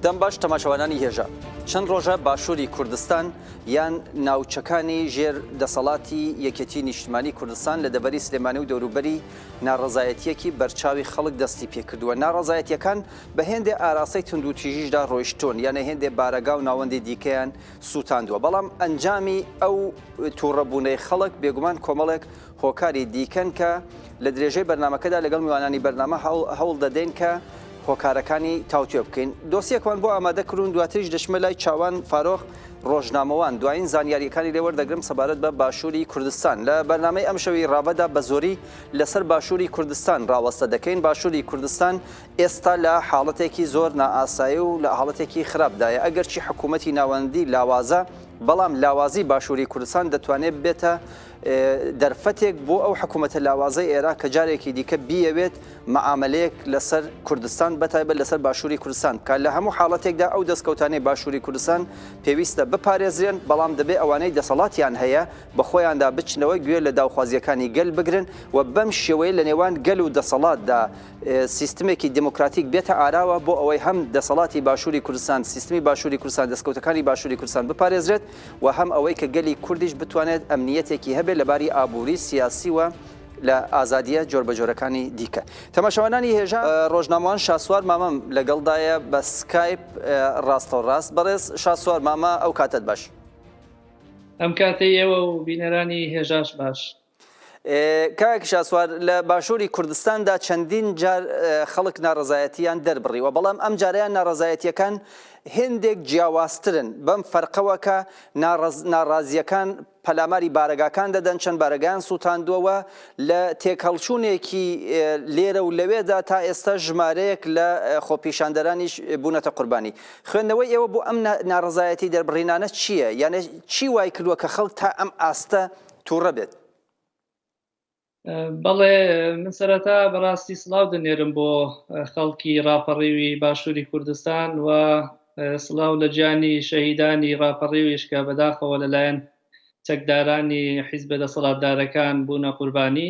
دەم باش تەماشەوانانی هێژا چەند ڕۆژە باشووری کوردستان یان ناوچەکانی ژێر دەسەڵاتی یەکێتی نیشتمانی کوردستان لە دەبەری سلێمانی و دەوروبەری ناڕزایەتیەکی بەرچاوی خەڵک دەستی پێکردووە ناڕزایەتیەکان بە هێندێ ئاراستەی تونندوتیژیشدا ڕۆیشتۆن یانە هێندێ بارەگا و ناوەندی دیکەیان سوتاندوە، بەڵام ئەنجامی ئەو توڕە بونەی خەڵک بێگومان کۆمەڵێک هۆکاری دیکەن کە لە درێژەی بەرنامەکەدا لەگەڵ میوانانی بەرنامە هەوڵ دەدەین کە هۆکارەکانی تاوتوێ بکەین. دۆسیەکمان بۆ ئامادە کردون دواتریش دەچمە لای چاوان فارۆخ ڕۆژنامەوان دوایین زانیاریەکانی لێ وەردەگرم سەبارەت بە باشوری کوردستان لە بەرنامەی ئەمشەوی ڕاڤەدا بەزۆری لەسەر باشوری کوردستان ڕاوەستە دەکەین باشوری کوردستان ئێستا لە حاڵەتێکی زۆر نائاسایی و لە حاڵەتێکی خراپدایە، ئەگەرچی حکوومەتی ناوەندی لاوازە، بەڵام لاوازیی باشووری کوردستان دەتوانێت ببێتە دەرفەتێک بۆ ئەو حکوومەتە لاوازەی عێراق کە جارێکی دیکە بیەوێت مەعامەلەیەک لەسەر کوردستان بەتایبەت لەسەر باشووری کوردستان بکات، لە هەموو حاڵەتێکدا ئەو دەستکەوتانەی باشووری کوردستان پێویستە بپارێزرێن، بەڵام دەبێت ئەوانەی دەسەڵاتیان هەیە بە خۆیاندا بچنەوە گوێ لە داوخوازییەکانی گەل بگرن و بەم شێوەیە لە نێوان گەل و دەسەڵاتدا سیستمێکی دێمۆکراتیک بێتە ئاراوە بۆ ئەوەی هەم دەسەڵاتی باشووری کوردستان، سیستمی باشووری کوردستان، دەستکەوتەکانی باشووری کوردستان بپارێزرێت و هەم ئەوەی کە گەلی کوردیش بتوانێت ئەمنییەتێکی هەبێت لە باری ئابووری، سیاسی و لە ئازادییە جۆربەجۆرەکانی دیکە. تەماشاوانانی هێژا ڕۆژنامەوان شاسوار مامەم لەگەڵدایە بە سکایپ ڕاستەوڕاست. بەڕێز شاسوار مامە ئەو کاتەت باش. ئەم کاتەی ئێوە و بینەرانی هێژاش باش. کاک شاسوار لە باشووری کوردستاندا چەندین جار خەڵک ناڕزایەتیان دەربڕیوە بەڵام ئەم جاریان ناڕزایەتیەکان هێندێک جیاوازترن بەم فەرقەوەکە ناڕازیەکان پەلاماری بارەگاکان دەدەن چەند بارەگان سووتاندووەوە لە تێکهڵچوونێکی لێرە و لەوێدا تا ئێستا ژمارەیەک لە خۆپیشاندەرانیش بوونەتە قوربانی خوێندنەوەی ئێوە بۆ ئەم ناڕزایەتی دەربڕینانە چییە یانە چی وای کردووە کە خەڵک تا ئەم ئاستە توڕە بێت. بەڵێ من سەرەتا بەڕاستی سڵاو دەنێرم بۆ خەڵکی ڕاپەڕیوی باشووری کوردستان و سڵاو لە جانی شەهیدانی ڕاپەڕیویش کە بەداخەوە لەلایەن چەکدارانی حیزبە دەسەڵاتدارەکان بوونە قوربانی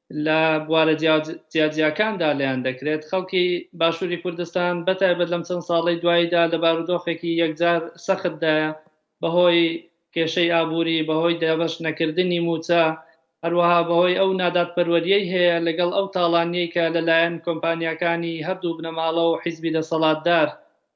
لە بوارە جیاجیاکاندا لێیان دەکرێت، خەڵکی باشووری کوردستان بە تایبەت لەم چەند ساڵەی دواییدا لە بارودۆخێکی یەکجار سەختدایە، بەهۆی کێشەی ئابووری، بەهۆی دابەش نەکردنی مووچە، هەروەها بەهۆی ئەو نادادپەروەرییەی هەیە لەگەڵ ئەو تاڵانییەی کە لەلایەن کۆمپانیاکانی هەردوو بنەماڵە و حیزبی دەسەڵاتدار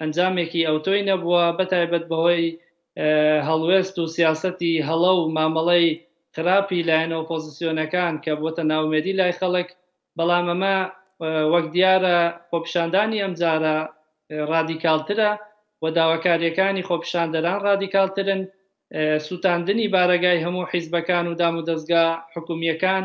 ئەنجامێکی ئەوتۆی نەبووە، بەتایبەت بەهۆی هەڵوێست و سیاسەتی هەڵە و مامەڵەی خراپی لایەنە ئۆپۆزسیۆنەکان کە بووەتە نائومێدی لای خەڵک، بەڵام ئەمە وەک دیارە خۆپیشاندانی ئەمجارە رادیکاڵترە و داواکارییەکانی خۆپیشاندەران رادیکاڵترن، سووتاندنی بارەگای هەموو حیزبەکان و دامودەزگا حکومییەکان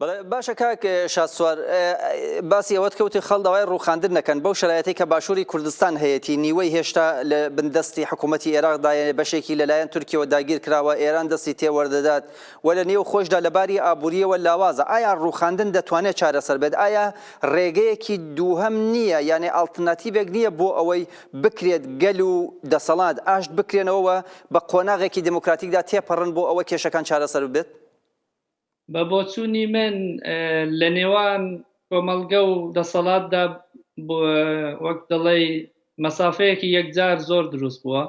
بەڵێ باشە کاک شاسوار باسی ئەوەت کەوتی خەڵ داوای ڕوخاندن نەکەن بەو شرایەتی کە باشووری کوردستان هەیەی نیوەی هێشتا لە بندەستی حکوومەتتی عێراقدایە بەشێکی لەلایەن تورکیەوە داگیر کراوە ئێران دەستی تێوەەردەدات و لە نێو خۆشدا لەباری ئابوووریەوە لاوازە ئایا ڕوخاندن دەتوانێت چارەسەر بێت ئایا ڕێگەیەکی دووهم نییە یانێ ئاڵتناتیڤێک نییە بۆ ئەوەی بکرێت گەل و دەسەڵات ئاشت بکرێنەوە بە قۆناغێکی دموکراتیکدا تێپەڕن بۆ ئەوە کێشەکان چارەسەر بێت بە بۆچوونی من لە نێوان کۆمەڵگە و دەسەڵاتدا وەک دەڵێی مەسافەیەکی یەکجار زۆر دروست بووە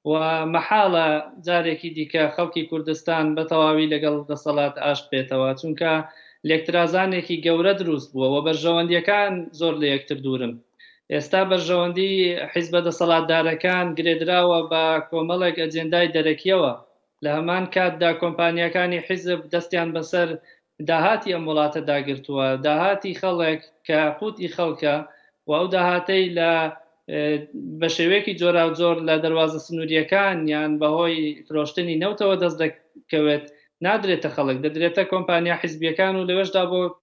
و مەحاڵە جارێکی دیکە خەڵکی کوردستان بە تەواوی لەگەڵ دەسەڵات ئاشت بێتەوە چونکە لێکترازانێکی گەورە دروست بووە و بەرژەوەندیەکان زۆر لە یەکتر دوورن. ئێستا بەرژەوەندی حیزبە دەسەڵاتدارەکان گرێدراوە بە کۆمەڵێک ئەجێندای دەرەکیەوە، لە هەمان کاتدا کۆمپانیاکانی حیزب دەستیان بەسەر داهاتی ئەم وڵاتەدا گرتووە، داهاتی خەڵک کە قوت ی خەڵکە و ئەو داهاتەی لە بە شێوەیەکی جۆراوجۆر لە دەروازە سنوورییەکان یان بە هۆی فرۆشتنی نەوتەوە دەست دەکەوێت نادرێتە خەڵک، دەدرێتە کۆمپانیا حیزبییەکان و لەوێشدا بۆ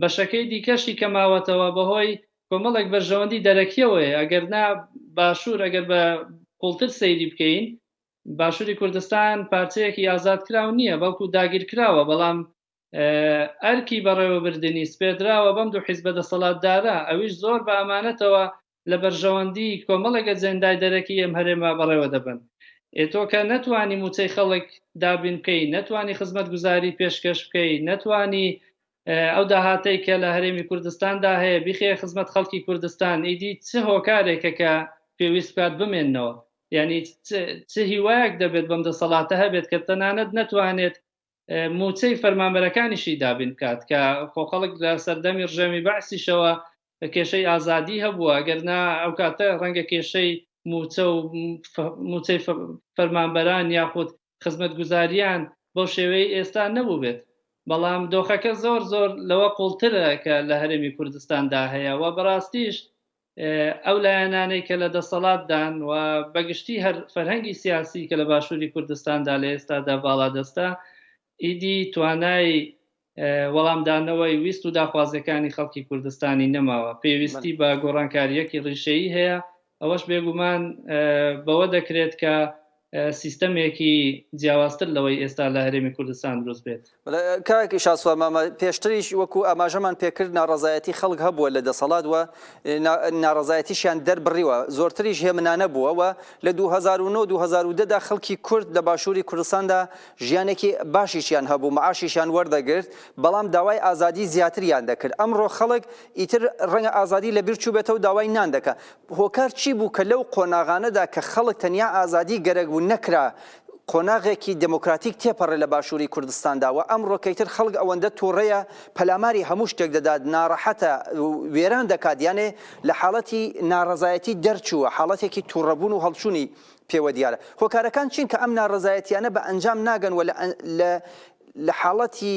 بەشەکەی دیکەشی کە ماوەتەوە بەهۆی کۆمەڵێک بەرژەوەندی دەرەکیەوەیە ئەگەر نا باشور ئەگەر بە قوڵتر سەیری بکەین باشوری کوردستان پارچەیەکی ئازادکراو نیە بەڵکو داگیرکراوە بەڵام ئەرکی بەڕێوەبردنی سپێردراوە بەم دوو حیزبە دەسەڵاتدارە ئەویش زۆر بە ئەمانەتەوە لە بەرژەوەندی کۆمەڵێک ئەجێندای دەرەکی ئەم هەرێمە بەڕێوە دەبەن. ئێ تۆ کە نەتوانی مووچەی خەڵک دابین بکەی، نەتوانی خزمەتگوزاری پێشکەش بکەی، نەتوانی ئەو داهاتەی کە لە هەرێمی کوردستاندا هەیە بیخەیە خزمەت خەڵکی کوردستان، ئیدی چ هۆکارێکە کە پێویست بکات بمێننەوە؟ یانی چ هیوایەک دەبێت بەم دەسەڵاتە هەبێت کە تەنانەت نەتوانێت موچەی فەرمانبەرەکانیشی دابین بکات کە خۆ خەڵک لە سەردەمی ڕژێمی بەعسیشەوە کێشەی ئازادی هەبووە گەرنا ئەو کاتە ڕەنگە کێشەی موچە و موچەی فەرمانبەران یاخود خزمەت گوزاریان بەو شێوەی ئێستا نەبوو بێت بەڵام دۆخەکە زۆر زۆر لەوە قوڵترە کە لە هەرێمی کوردستاندا هەیە و بەڕاستیش ئەو لایەنانەی کە لە دەسەڵاتدان و بەگشتی هەر فەرهەنگی سیاسی کە لە باشووری کوردستاندا لە ئێستادا باڵادەستە ئیدی توانای وەڵامدانەوەی ویست و داخوازیەکانی خەڵکی کوردستانی نەماوە پێویستی بە گۆڕانکاریەکی ڕیشەیی هەیە ئەوەش بێگومان بەوە دەکرێت کە سیستەمێکی جیاوازتر لەوەی ئێستا لە هەرێمی کوردستان دروست بێت. کاک شاسوار مامە پێشتریش وەکو ئاماژەمان پێکرد ناڕەزایەتی خەڵک هەبووە لە دەسەڵات و ناڕەزایەتیشیان دەربڕیوە زۆرتریش هێمنانە بووە و لە 2009 2010 دا خەڵکی کورد لە باشووری کوردستاندا ژیانێکی باشیشیان هەبوو معاشیشیان وەردەگرت بەڵام داوای ئازادی زیاتریان دەکرد ئەمڕۆ خەڵک ئیتر ڕەنگە ئازادی لەبیر چووبێتەوە داوای نان دەکا هۆکار چی بوو کە لەو قۆناغانەدا کە خەڵک تەنیا ئازادی گەرەک بوو نەکرا قۆناغێکی دێمۆکراتیک تێپەڕێ لە باشووری کوردستاندا و ئەمڕۆکەی تر خەڵک ئەوەندە توڕەیە پەلاماری هەموو شتێک دەدات ناڕەحەتە و وێران دەکات یانێ لە حاڵەتی ناڕەزایەتی دەرچووە حاڵەتێکی توڕەبوون و هەڵچوونی پێوە دیارە هۆکارەکان چین کە ئەم ناڕەزایەتیانە بە ئەنجام ناگەن و لە لە حاڵەتی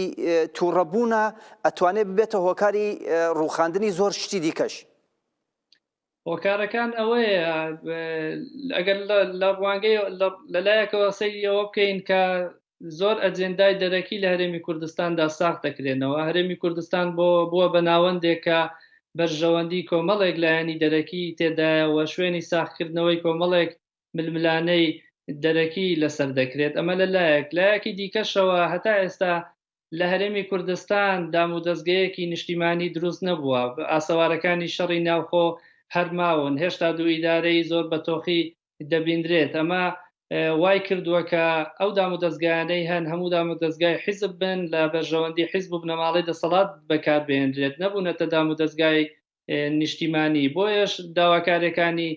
توڕەبوونا ئەتوانێ ببێتە هۆکاری ڕووخاندنی زۆر شتی دیکەش. هۆکارەکان ئەوەیە ئەگەر لە ڕوانگەی لەلایەکەوە سەیری ئەوە بکەین کە زۆر ئەجندای دەرەکی لە هەرێمی کوردستاندا ساخ دەکرێنەوە هەرێمی کوردستان بۆ بووە بە ناوەندێکە بەرژەوەندی کۆمەڵێک لایەنی دەرەکی تێدایەوە شوێنی ساخکردنەوەی کۆمەڵێک ململانەی دەرەکی لەسەر دەکرێت ئەمە لە لایەک لایەکی دیکەشەوە هەتا ئێستا لە هەرێمی کوردستان دامودەزگەیەکی نیشتیمانی دروست نەبووە، ئاسەوارەکانی شەڕی ناوخۆ هەر ماون، هێشتا دوو ئیدارەی زۆر بە تۆخی دەبینرێت، ئەمە وای کردووە کە ئەو دامودەزگایانەی هەن هەموو دامودەزگای حیزب بن، لە بەرژەوەندی حیزب و بنەماڵەی دەسەڵات بەکار بهێنرێت، نەبوونەتە دامودەزگای نیشتیمانی، بۆیەش داواکاریەکانی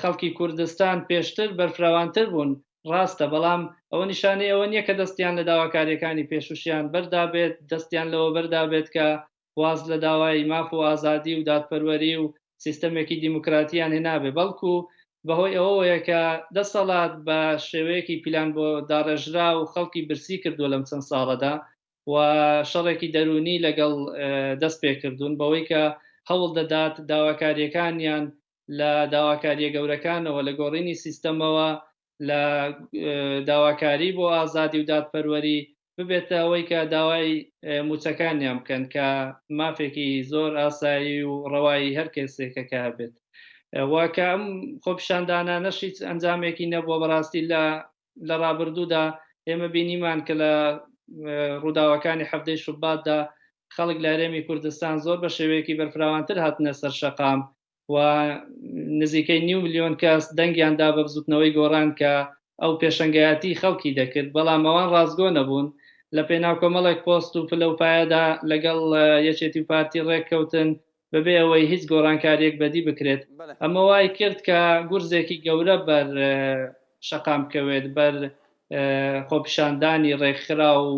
خەڵکی کوردستان پێشتر بەرفراوانتر بوون ڕاستە، بەڵام ئەوە نیشانەی ئەوە نییە کە دەستیان لە داواکارییەکانی پێشووشیان بەردابێت، دەستیان لەوە بەردابێت کە واز لە داوای ماف و ئازادی و دادپەروەری و سیستەمێکی دیموکراتییان هێنابێت، بەڵکو بەهۆی ئەوەوەیە کە دەسەڵات بە شێوەیەکی پیلانبۆداڕێژراو خەڵکی برسی کردووە لەم چەند ساڵەدا و شەڕێکی دەروونی لەگەڵ دەستپێکردوون بەوەی کە هەوڵدەدات داواکارییەکانیان لە داواکارییە گەورەکانەوە، لە گۆڕینی سیستەمەوە، لە داواکاری بۆ ئازادی و دادپەروەری، ببێتە ئەوەی کە داوای مووچەکانیان بکەن، کە مافێکی زۆر ئاسایی و ڕەوای هەر کەسێکە کە هەبێت. و کە ئەم خۆپیشاندانانەش هیچ ئەنجامێکی نەبووە، بەڕاستی لە لە ڕابردوودا ئێمە بینیمان کە لە ڕووداوەکانی حەفتەی شوباتدا خەڵک لە هەرێمی کوردستان زۆر بە شێوەیەکی بەرفراوانتر هاتنە سەر شەقام و نزیکەی نیو ملیۆن کەس دەنگیان دا بە بزوتنەوەی گۆڕان کە ئەو پێشەنگایەتی خەڵکی دەکرد بەڵام ئەوان ڕاستگۆ نەبوون لە پێناو کۆمەڵێک پۆست و پلە و پایەدا لەگەڵ یەکێتی و پارتی ڕێککەوتن بەبێ ئەوەی هیچ گۆڕانکارییەک بەدی بکرێت، ئەمە وای کرد کە گورزێکی گەورە بەر شەقام بکەوێت، بەر خۆپیشاندانی ڕێکخراو و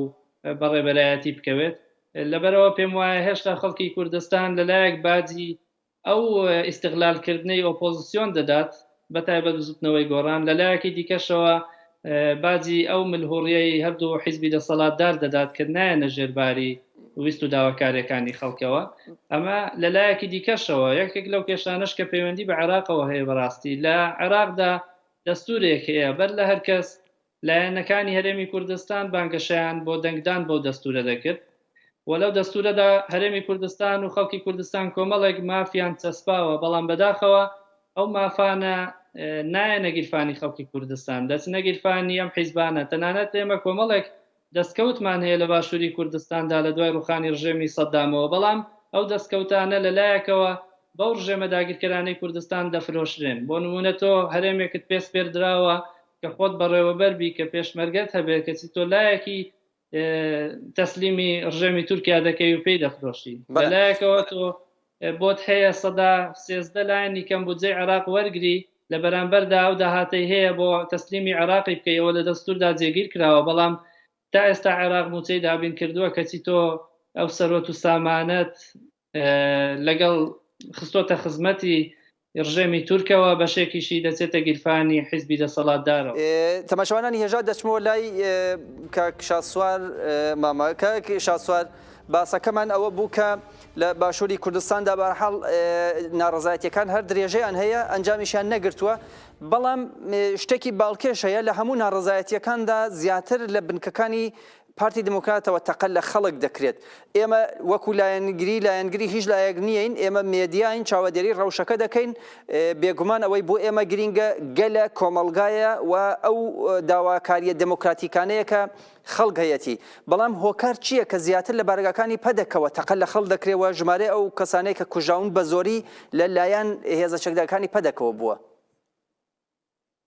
بەڕێوەبەرایەتی بکەوێت، لەبەرئەوە پێم وایە هێشتا خەڵکی کوردستان لەلایەک باجی ئەو ئیستغلالکردنەی ئۆپۆزسیۆن دەدات، بەتایبەت بزوتنەوەی گۆڕان، لەلایەکی دیکەشەوە باجی ئەو ملهوڕیەی هەردوو حیزبی دەسەڵاتدار دەدات کە نایەنە ژێر باری ویست و داواکاریەکانی خەڵکەوە، ئەمە لەلایەکی دیکەشەوە یەکێک لەو کێشانەش کە پەیوەندی بە عێراقەوە هەیە بەڕاستی لە عێراقدا دەستورێک هەیە بەر لە هەرکەس لایەنەکانی هەرێمی کوردستان بانگەشەیان بۆ دەنگدان بەو دەستوورە دەکرد و لەو دەستوورەدا هەرێمی کوردستان و خەڵکی کوردستان کۆمەڵێک مافیان چەسپاوە، بەڵام بەداخەوە ئەو مافانە نایەنە گیرفانی خەڵکی کوردستان، دەچنە گیرفانی ئەم حیزبانە، تەنانەت ئێمە کۆمەڵێک دەستکەوتمان هەیە لە باشووری کوردستاندا لە دوای ڕووخانی ڕژێمی سەددامەوە، بەڵام ئەو دەستکەوتانە لە لایەکەوە بەو ڕژێمە داگیرکەرانەی کوردستان دەفرۆشرێن. بۆ نموونە تۆ هەرێمێکت پێ سپێردراوە کە خۆت بەڕێوەبەر بی، کە پێشمەرگەت هەبێت، کەچی تۆ لایەکی تەسلیمی ڕژێمی تورکیا دەکەی و پێی دەفرۆشی. لە لایەکەوە تۆ بۆت هەیە سەدا سێزدە لایەنی کەم بودجەی عێراق وەرگری، لە بەرامبەردا ئەو داهاتەی هەیە بۆ تەسلیمی عێراقی بکەی، ئەوە لە دەستوردا جێگیر کراوە، بەڵام تا ئێستا عێراق موچەی دابین کردوە، کەچی تۆ ئەو سەروەت و سامانەت لەگەڵ خستۆتە خزمەتی ڕژێمی تورکەوە، بەشێکیشی دەچێتە گیرفانی حیزبی دەسەڵاتدارەوە. تەماشەوانانی هێژا دەچمەوە لای کاک شاسوار مامە. کاک شاسوار باسەکەمان ئەوە بوو کە لە باشووری کوردستاندا بە هەر حاڵ ناڕەزایەتیەکان هەر درێژەیان هەیە ئەنجامیشیان نەگرتووە، بەڵام شتێکی باڵکێش هەیە لە هەموو ناڕەزایەتیەکاندا زیاتر لە بنکەکانی پارتی دیموکراتەوە تەقە لە خەڵک دەکرێت. ئێمە وەکو لایەنگری لایەنگری هیچ لایەک نیین، ئێمە مێدیاین چاوەدێری ڕەوشەکە دەکەین، بێگومان ئەوەی بۆ ئێمە گرینگە گەلە، کۆمەڵگایە و ئەو داواکارییە دێمۆکراتیکانەیە کە خەڵک هەیەتی. بەڵام هۆکار چییە کە زیاتر لە بارەگاکانی پەدەکەوە تەقە لە خەڵک دەکرێت و ژمارەی ئەو کەسانەی کە کوژراون بە زۆری لە لایەن هێزە چەکدارەکانی پەدەکەوە بووە؟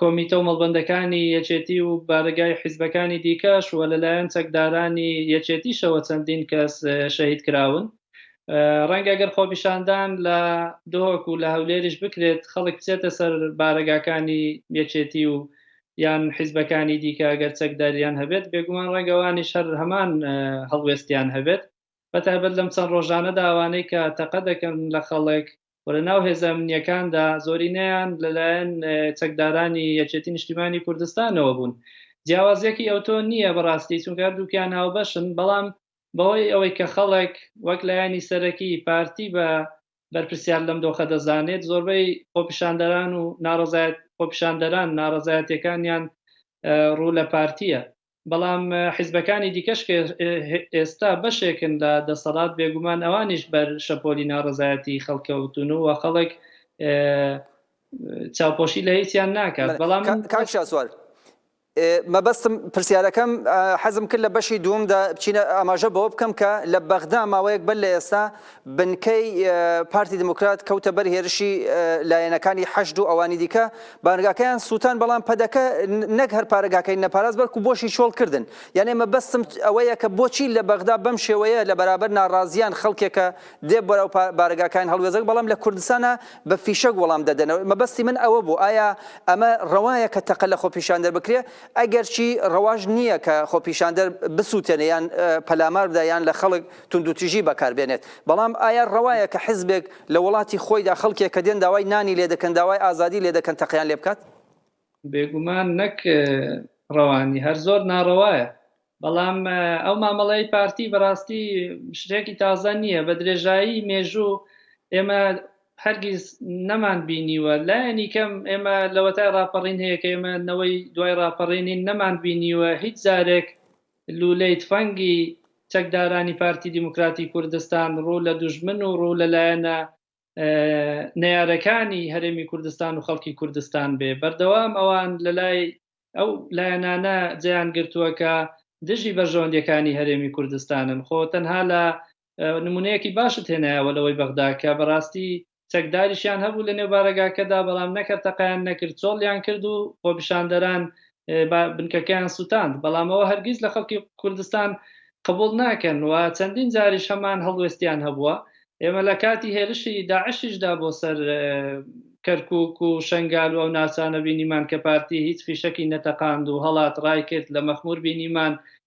کۆمیتە و مەڵبەندەکانی یەکێتی و بارەگای حیزبەکانی دیکەش و لەلایەن چەکدارانی یەکێتیشەوە چەندین کەس شەهید کراون. ڕەنگە گەر خۆپیشاندان لە دهۆک و لە هەولێریش بکرێت خەڵک بچێتە سەر بارەگاکانی یەکێتی و یان حیزبەکانی دیکە ئەگەر چەکداریان هەبێت بێگومان ڕەنگە وانیش هەر هەمان هەڵوێستیان هەبێت بەتایبەت لەم چەند ڕۆژانەدا ئەوانەی کە تەقە دەکەن لە خەڵک و لە ناو هێزە ئەمنییەکاندا زۆرینەیان لەلایەن چەکدارانی یەکێتی نیشتیمانی کوردستانەوە بوون جیاوازیەکی ئەوتۆ نییە بەڕاستی چونکە هەردووکیان هاوبەشن بەڵام بەهۆی ئەوەی کە خەڵک وەک لایەنی سەرەکی پارتی بە بەرپرسیار لەم دۆخە دەزانێت زۆربەی خۆپیشاندەران و ناڕەزایەت خۆپیشاندەران ناڕەزایەتیەکانیان ڕوو لە پارتیە بەڵام حیزبەکانی دیکەش کە ئێستا بەشێکن لە دەسەڵات بێگومان ئەوانیش بەر شەپۆلی ناڕەزایەتی خەڵکەوتون و خەڵک چاوپۆشی لە هیچیان ناکات بەڵام کاک شاسوار مەبەستم پرسیارەکەم حەزم کرد لە بەشی دومدا بچینە ئاماژە بەوە بکەم کە لە بەغدا ماوەیەک بەر لە ئێستا بنکەی پارتی دیموکرات کەوتە بەر هێرشی لایەنەکانی حەشد و ئەوانی دیکە بارگاکەیان سووتان بەڵام پەدەکە نەک هەر پارەگاکەی نەپاراز بەرکو بۆشی چۆڵ کردن یانێ مە بەستم ئەوەیە کە بۆچی لە بەغدا بەم شێوەیە لە بەرابەر ناڕازیان خەڵکێکە دێ بەرەو بارگاکان هەڵوێزەک بەڵام لە کوردستانە بە فیشەک وەڵام دەدەنەوە مەبەستی من ئەوە بوو ئایا ئەمە ڕەوایە کە تەقە لە خۆپیشاندەر بکرێ ئەگەرچی ڕەواش نییە کە خۆپیشاندەر بسووتێنە یان پەلامار بدە یان لە خەڵک توندوتیژی بەکار بێنێت، بەڵام ئایا ڕەوایە کە حزبێک لە وڵاتی خۆیدا خەڵکێک کە دێن داوای نانی لێ دەکەن داوای ئازادی لێ دەکەن تەقەیان لێ بکات؟ بێگومان نەک ڕەوا نی هەر زۆر ناڕەوایە، بەڵام ئەو مامەڵەی پارتی بەڕاستی شتێکی تازە نییە بە درێژایی مێژوو ئێمە هەرگیز نەمان بینیوە لایەنی کەم ئێمە لەوەتای ڕاپەڕین هەیە کە ئێمە نەوەی دوای ڕاپەڕینین نەمان بینیوە هیچ جارێک لوولەی تفەنگی چەکدارانی پارتی دیموکراتی کوردستان ڕوو لە دوژمن و ڕوو لە لایەنە نەیارەکانی هەرێمی کوردستان و خەڵکی کوردستان بێ بەردەوام ئەوان لە لای ئەو لایەنانە جێیان گرتووە کە دژی بەرژەوەندیەکانی هەرێمی کوردستانن خۆ تەنها لە نمونەیەکی باشت هێنایەوە لەوەی بەغدا کە بەڕاستی چەکداریشیان هەبوو لە نێو بارەگاکەدا بەڵام نەکرد تەقیان نەکرد چۆڵیان کرد و خۆپیشاندەران بنکەکەیان سووتاند بەڵامەوە هەرگیز لە خەڵکی کوردستان قبول ناکەن و چەندین جاریش هەمان هەڵوێستیان هەبووە ئێمە لە کاتی هێرشی داعشیشدا بۆ سەر کەرکک و شنگال و ئەو ناچانە بینیمان کە پارتی هیچ فیشەکی نەتەقاند و هەڵات ڕای کرد لە مەخمور بینیمان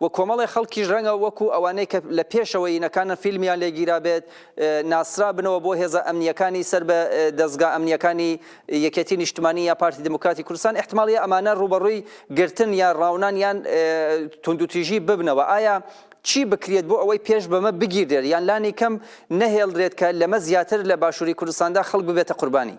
و کۆمەڵێ خەڵکیش رەنگە وەکو ئەوانەی کە لە پێشەوە ینەکانن فیلمیان لێ گیرابێت ناسرابنەوە بۆ هێزە ئەمنییەکانی سەر بە دەزگا ئەمنییەکانی یەکێتی نیشتمانی یا پارتی دیموکراتی کوردستان ئیحتماڵیە ئەمانە رووبەڕووی گرتن یا راونان یان توندوتیژی ببنەوە ئایا چی بکرێت بۆ ئەوەی پێش بەمە بگیردرێت یان لانی کەم نەهێڵدرێت کە لەمە زیاتر لە باشوری کوردستاندا خەڵک ببێتە قوربانی؟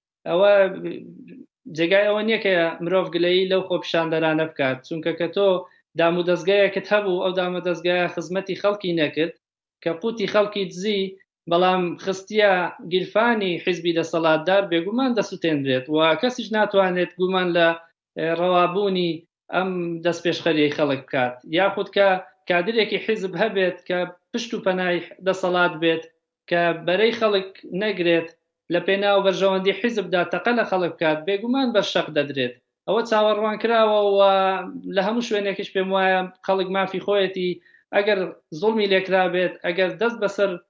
ئەوە جێگای ئەوە نییە کە مرۆڤ گلەیی لەو خۆپیشاندەرانە بکات چونکە کە تۆ دام و دەستگایەکت هەبوو ئەو دامە دەستگایە خزمەتی خەڵکی نەکرد کە قوتی خەڵکی دزی بەڵام خستیە گیرفانی حیزبی دەسەڵاتدار بێگومان دەسوتێنرێت و کەسیش ناتوانێت گومان لە ڕەوابوونی ئەم دەستپێشخەریەی خەڵک بکات، یاخود کە کادرێکی حیزب هەبێت کە پشت و پەنای دەسەڵات بێت کە بەرەی خەڵک نەگرێت، لە پێناو بەرژەوەندی حیزبدا تەقە لە خەڵک بکات، بێگومان بەر شەق دەدرێت. ئەوە چاوەڕوانکراوە و لە هەموو شوێنێکیش پێموایە خەڵک مافی خۆیەتی ئەگەر زوڵمی لێکرابێت، ئەگەر دەست بەسەر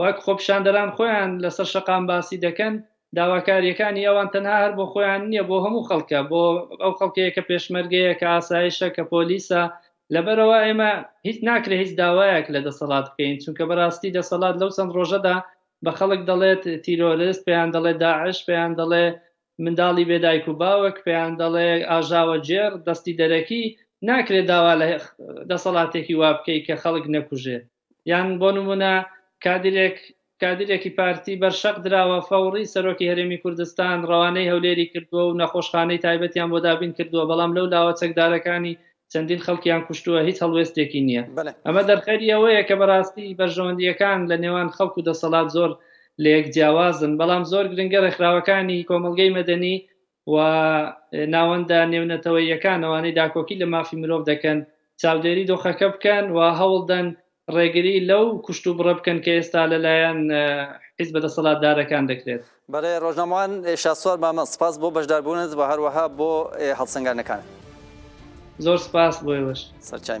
وەک خۆپیشاندەران خۆیان لەسەر شەقام باسی دەکەن، داواکارییەکانی ئەوان تەنها هەر بۆ خۆیان نییە، بۆ هەموو خەڵکە، بۆ ئەو خەڵکەیە کە پێشمەرگەیە، کە ئاسایشە، کە پۆلیسە، لەبەرئەوە ئێمە هیچ ناکرێت هیچ داوایەک لە دەسەڵات بکەین، چونکە بەراستی دەسەڵات لەو چەند رۆژەدا بە خەڵک دەڵێت تیرۆرست، پێیان دەڵێت داعش، پێیان دەڵێ منداڵی بێ دایک و باوک، پێیان دەڵێ ئاژاوەگێڕ، دەستی دەرەکی، ناکرێت داوا لە دەسەڵاتێکی وا بکەیت کە خەڵک نەکوژێت. یان بۆ نمونە کادیرێک کادیرێکی پارتی بەر شەق دراوە فەوڕی سەرۆکی هەرێمی کوردستان ڕەوانەی هەولێری کردووە و نەخۆشخانەی تایبەتیان بۆ دابین کردووە بەڵام لەو لاوە چەکدارەکانی چەندین خەڵکیان کوشتووە هیچ هەڵوێستێکی نییە ئەمە دەرخەری ئەوەیە کە بەڕاستی بەرژەوەندییەکان لە نێوان خەڵک و دەسەڵات زۆر لە یەک جیاوازن بەڵام زۆر گرنگە ڕێکخراوەکانی کۆمەڵگەی مەدەنی و ناوەندە نێونەتەوەییەکان ئەوانەی داکۆکی لە مافی مرۆڤ دەکەن چاودێری دۆخەکە بکەن و هەوڵدەن ڕێگری لەو کوشتوبڕە بکەن کە ئێستا لەلایەن حیزبە دەسەڵاتدارەکان دەکرێت. بەڕێز ڕۆژنامەوان شاسوار مامە، سپاس بۆ بەشداربوونت و هەروەها بۆ هەڵسەنگاندنەکانت. زۆر سپاس بۆ ئێوەش. سەرچاوی.